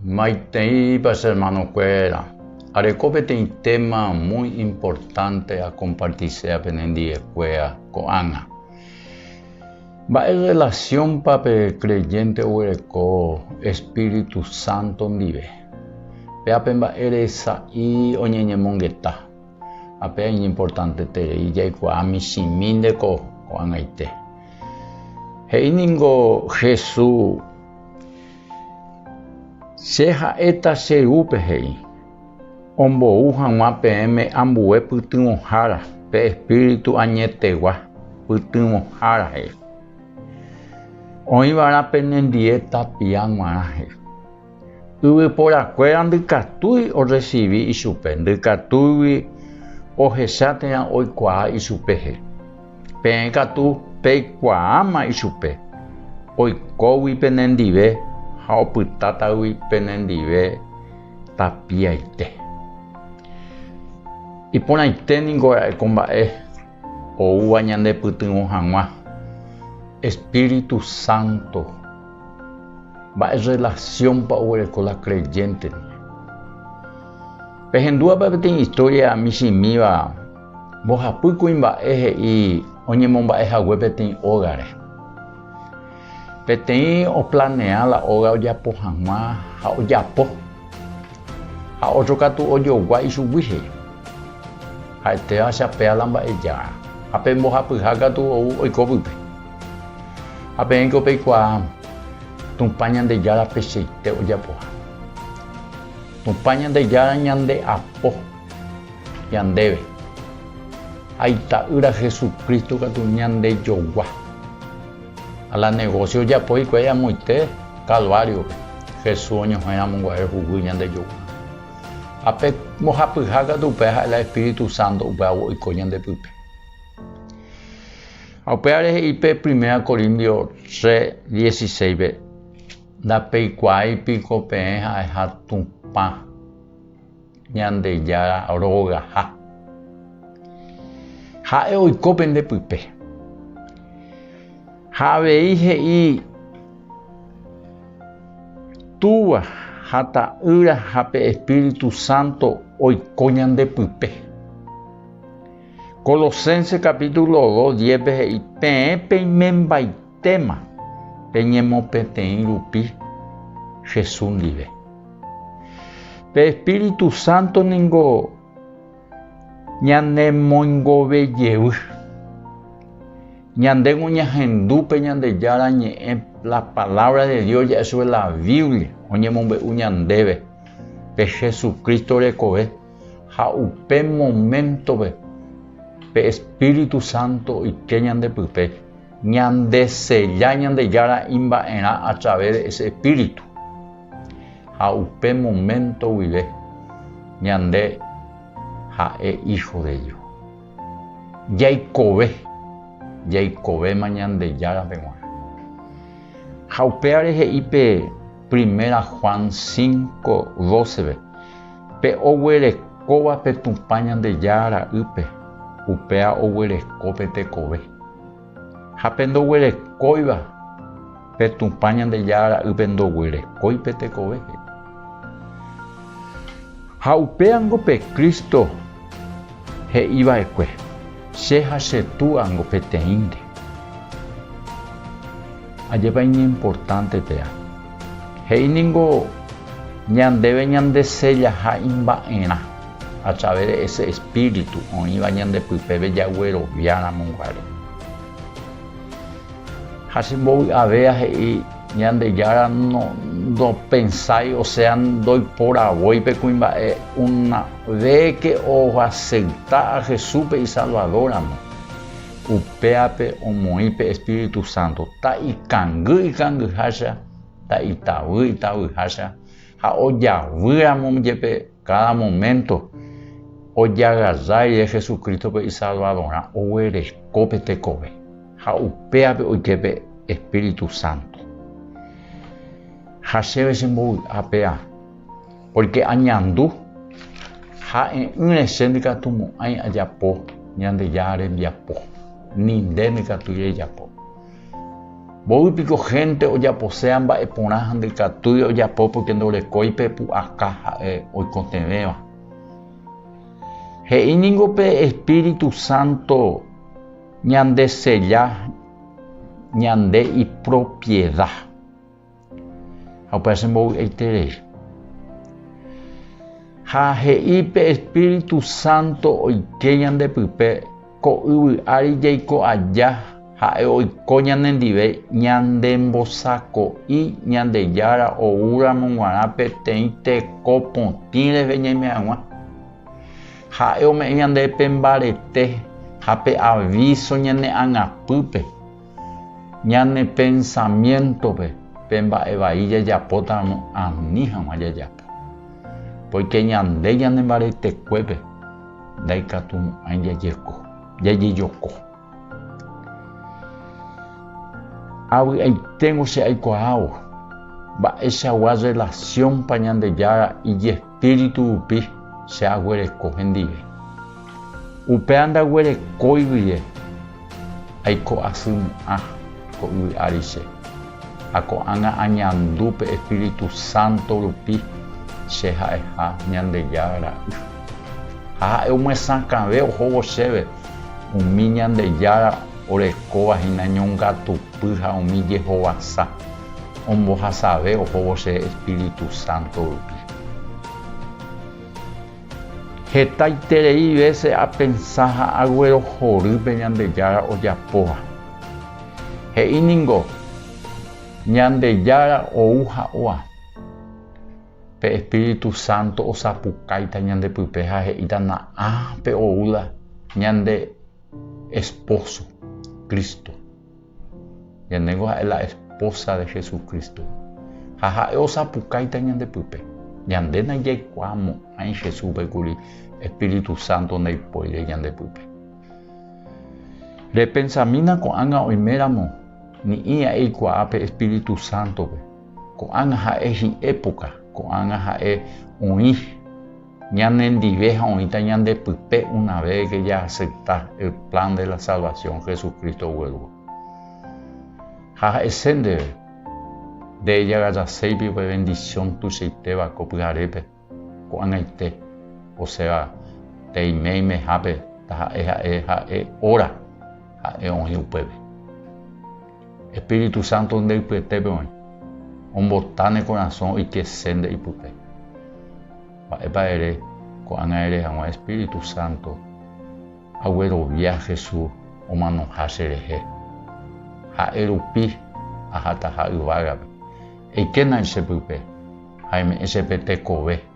Maiteipa che hermanokuéra, areko peteĩ téma muy importante akompartisea penendiekuéa ko'ág̃a. Mba'e rrelasiónpa pe kreyénte oguereko espíritu sánto ndive? Pe ape mba'ére sa'i oñeñemongeta? Ha péa iñimportanteterei jaikuaa michĩmi nde ko ko'ag̃aite. He'i ningo Jesús. Che ha'éta che Rúpe he'i, ombou haguã peẽme ambue pytyvõhára pe Espíritu añetegua pytyvõhára he'i. Oĩva'erã penendie tapia guarã he'i. Yvyporakuéra ndykatúi orresivi ichupe, ndykatúigui ohecha térã oikuaa ichupe he'i. Peẽ katu peikuaáma ichupe, oikógui penendive ha opytátagui penendive tapiaite. Iporãite ningo ra'e ko mba'e oúva ñandepytyvõ hag̃ua Espíritu Santo. Mba'e rrelasiónpa oguereko la kreyénteri? Pehendúva pe peteĩ istória michĩmíva. Mbohapy kuimba'e he'i oñemomba'e hague peteĩ ógare. Peteĩ oplanea la óga ojapo hag̃ua ha ojapo, ha ótro katu ojogua ichugui he'i. Ha'etéva chapea la mba'ejára, ha pe mbohapyha katu ou oiko pype. Ha peẽko peikuaa Tupã Ñandejára pecheite ojapoha. Tupã Ñandejára ñande apo. Ñandéve. Ha Ita'ýra Jesucristo katu ñandejogua. Ha la negocio ojapo hikuái amoite Calvario-pe, Jesús oñohẽramoguare huguy ñandejogua. Ha pe mbohapyha katu upéva ha'e la Espíritu Santo upévagua oiko ñande pype. Ha upévare he'i pe Primera Corindio tre dieciséispe, Ndapeikuaái piko peẽ ha'eha Tupã. Ñandejára rogaha. Ha'e oiko pende pype. Ha avei he'i Túva ha Ta'ýra ha pe Espíritu Santo oiko ñande pype. Colosenses capítulo 2, 10 pe he'i, Peẽ peimembaite. Téma, Peñemopetei rupi Jesús ndive. Pe Espíritu Santo ningo ñanemoingove jevy. Ñandéko ñahendu pe Ñandejára Ñe'ẽ, la Palabra de Dios, ja'e chupe la Biblia, oñemombe'u ñandéve pe Jesucristo rekove ha upe moméntope pe Espíritu Santo oike ñandepype. Ñandesella Ñandejára imba'erã a través de ese Espíritu. Ha upe momento guive ñande ha'e hijo de Dios. Jaikove, jaikovéma Ñandejárape g̃uarã. Ha upévare he'i pe Primera Juan 5, 12-pe, Pe oguerekóva pe Tupã Ñandejára ra'ýpe, upéva oguereko pe tekove. Ha pe ndoguerekóiva, pe Tupã Ñandejára ra'ýpe ndoguerekói pe tekove, he'i. Ha upéva niko pe Cristo he'i va'ekue, Che ha che Túa niko peteĩnte. Ajépa iñimportánte péva! He'i niko ñandéve ñandesellaha imba'erã. A través de ese Espíritu oĩva ñande pypeve jagueroviáramoguare. Ha che mbovy'ave ahe'i Ñandejára no ndopensái, o sea, ndoiporavói pe kuimba'e una véke oaceita a Jesúspe isalvadóramo, upéape omoĩ pe Espíritu Santo, ta ikangy ikangyhácha, ta itavy itavyhácha, ha ojavýramo jepe Káda moménto ojagaja rire Jesucrístope isalvadorã oguereko pe tekove ha upévape oike pe espíritu sánto. Ha chéve chembovy'a péva, pórke añandu ha e'ỹre che ndykatumo'ãi ajapo Ñandejára rembiapo, ni nde ndykatúi rejapo. Mboy piko gente ojaposea mba'e porã ha ndykatúi ojapo porque ndorekói pe pu'aka ha'e oikotevẽva. He'i ningo pe Espíritu Santo ñande sella ñande ipropiedad. Ha upéva che mbovy'aiterei. Ha he'i pe Espíritu Santo oike ñande pype, ko yvy ári jaiko aja, ha'e oiko ñane ndive ñandembosako'i Ñandejára oúramo g̃uarã peteĩ teko potĩ rehe ñaime hag̃ua. Ha'e ome'ẽ ñande pe mbarete ha pe avíso ñane angapýpe. Ñane pensamiéntope pe mba'e vai jajapótaramo ani hag̃ua jajapo. Póike ñande ñanembaretekuépe ndaikatumo'ãi jajeko, jajejoko. Avy'aiténgo che aikuaávo mba'eichagua rrelasiónpa Ñandejára ijespíritu. Espíritu rupi che aguereko hendive. Upéva ndaguerekói guie aiko asy my'ã ko yvy ári che, ha ko'ág̃a añandu pe Espíritu Santo rupi che ha'eha Ñandejára Ra'y. Ha ha'e omyesakãve ohóvo chéve umi Ñandejára orekóva hína ñongatupy ha umi jehovasa. Ombohasave ohóvo che Espíritu Santo rupi. Hetaiterei vése apensa ha aguerohory pe Ñandejára ojapóva. He'i ningo, Ñandejára ou ha oa. Pe Espíritu Santo osapukáita ñandepype ha he'íta na'ã pe oúla ñande Espóso, Cristo. Ñandéngo ha'e la espósa de Jesucristo, ha ha'e osapukáita ñande pype. Ñande najaikuaamo'ãi Jesúspe kuri espíritu sánto ndaipóire ñande pype. Repensamína ko'ág̃a oiméramo ni'i aikuaa pe espíritu sántope, ko'ág̃a ha'e hi'époka, ko'ág̃a ha'e oĩ. Ñane ndive ha oĩta ñande pype una véveke jaacepta el plan de la salvación Jesucristo guérugui. Ha ha'ese ndéve, Nde ejagajaseipi upe bendición tuichaitéva ko pyharépe, ko'ag̃aite, osẽva peiméimehápe taha'e ha'e ha'e óra ha'e oĩ upépe. Espíritu Santo nde ypyetépe oĩ, ombota ne korasõ oike se nde ipype. Mba'épa ere ko'ág̃a ere haguã Espíritu Santo, aguerovia Jesús omanoha che rehe. Ha'e rupi ahataha yvágape, eikéna che pype ha eme'ẽ che pe tekove.